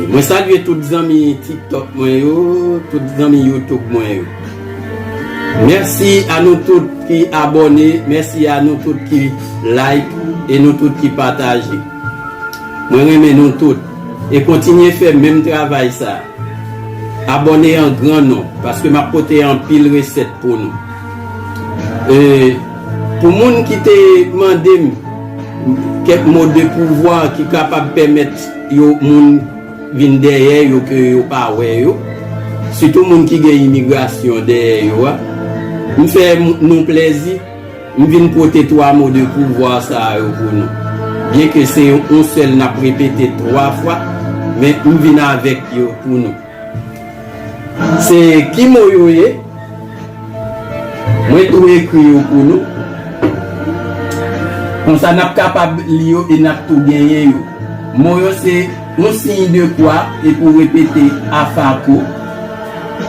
Mwen salye tout zanmi tiktok mwen yo, tout zanmi youtube mwen yo. Mèsi a nou tout ki abòne, mèsi a nou tout ki like e nou tout ki pataje. Mwen renmen nou tout e kontinye fè menm travay sa. Abòne an gran non paske map pote anpil resèt pou nou. Pou moun ki te mande m kèk mo de pouvwa ki kapab pèmèt yo moun vin dèyè yo ke yo pa wè yo, sitou moun ki gen imigrasyon dèyè yo a, m fè nou plèzi, m vin pote twa mo de pouvwa sa yo pou nou. Byenke se yon sèl n ap repete twa fwa, men m vin avèk yo pou nou. Se ki mo yo ye? Mwen tou ekri yo pou nou. Konsa n ap kapab li yo e n ap tou genyen yo. Mo yo se yon siy de kwa epi ou repete afako.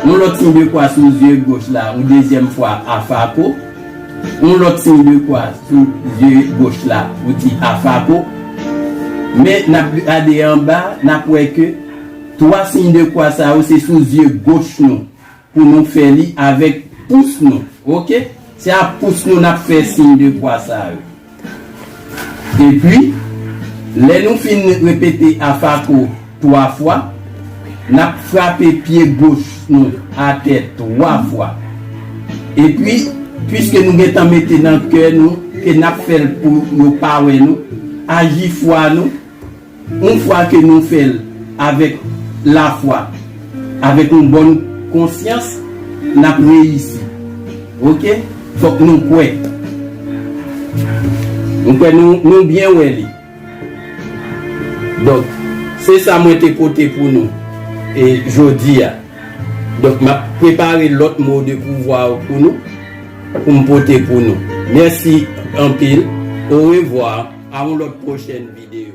Yon lòt siy de kwa sou zye goch la yon dezyèm fwa afako. Yon lòt siy de kwa sou zye goch la pou di afako. Men n ap gade anba, n ap wè ke. Twa siy de kwa sa yo se sou zye goch nou pou nou fè li avèk pous nou ok se a pous nou nap fè siy de kwa sa yo epi lè nou fin repete afako twa fwa nap frape pye goch nou atè twa fwa epi piske nou gentan mete nan kè nou ke nap fèl pou yo pa wè nou aji fwa nou Yon fwa ke nou fè l avèk lafwa, avèk yon bòn konsyans, n ap reyisi. Ok? Fòk nou kwè. M kwè nou byen wè li. Donk, se sa mwen te pote pou nou jodi a. Donk, m ap prepare lòt mo de pouvwa pou nou. Pou m pote pou nou. Merci anpil. Au revoir a yon lot prochèn video.